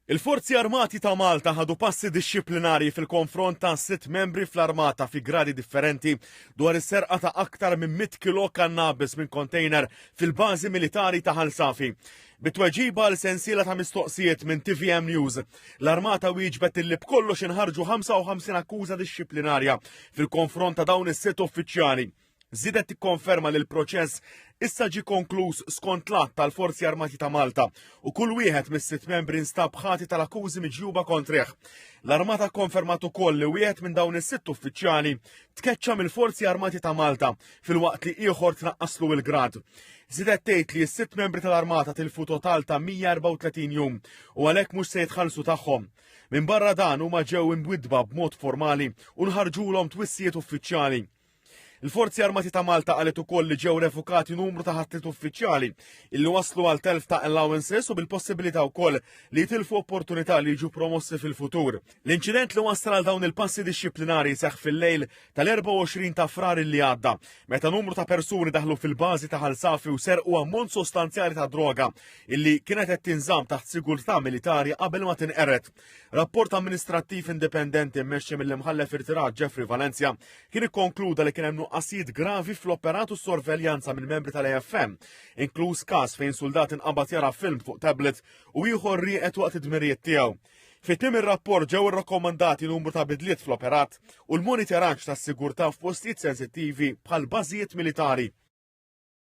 Il-Forzi Armati ta' Malta ħadu passi dixxiplinarji fil-konfront ta' sitt membri fl-Armata fi gradi differenti dwar is-serqa ta' aktar minn 100 kilo kannabis minn kontejner fil-bażi militari ta' Ħal Safi. Bi tweġiba għal sensiela ta' mistoqsijiet minn tvm News, l-Armata wieġbet illi b'kollox inħarġu 55 akkuża dixxiplinarja fil-konfront ta' dawn is-sitt uffiċjali. żiedet tikkonferma li l-proċess issa ġie konkluż skont l-att tal-Forzi Armati ta' Malta u kull wieħed mis-sitt membri nstab ħati tal-akkużi miġjuba kontrih. L-Armata kkonfermat ukoll li wieħed minn dawn is-sitt uffiċjali tkeċċa mill-Forzi Armati ta' Malta filwaqt li ieħor tnaqqaslu il-grad. Zidet tgħid li s-sitt membri tal-Armata tilfu total ta' 134 jum u għalhekk mhux se jitħallsu tagħhom. Minn barra dan huma ġew imbwidba b'mod formali u nħarġulhom twissijiet uffiċjali. Il-Forzi Armati ta' Malta qalet ukoll li ġew refukati numru ta' ħatrit uffiċjali illi waslu għal telf ta' allowances u bil-possibilità wkoll li jitilfu opportunità li jiġu promossi fil-futur. L-inċident li wassal għal dawn il-passi dixxiplinari seħħ fil-lejl tal-24 ta' frar li għadda meta numru ta' persuni daħlu fil-bażi ta' Ħalsafi u serqu ammont sostanzjali ta' droga illi kienet qed tinżamm taħt sigurtà militari qabel ma tinqered. Rapport amministrattiv indipendenti mmexxi mill-imħallef irtirat Jeffrey Valencia kien ikkonkluda li kien hemm nuqqasijiet gravi fl-operat u sorveljanza minn membri tal-AFM, inkluż każ fejn suldat inqabad jara film fuq tablet u ieħor rieqed waqt id-dmirijiet tiegħu. Fit-tim ir-rapport ġew irrakkomandati numru ta' bidliet fl-operat u l-monitoraġġ tas-sigurtà f'postijiet sensittivi bħal bażijiet militari.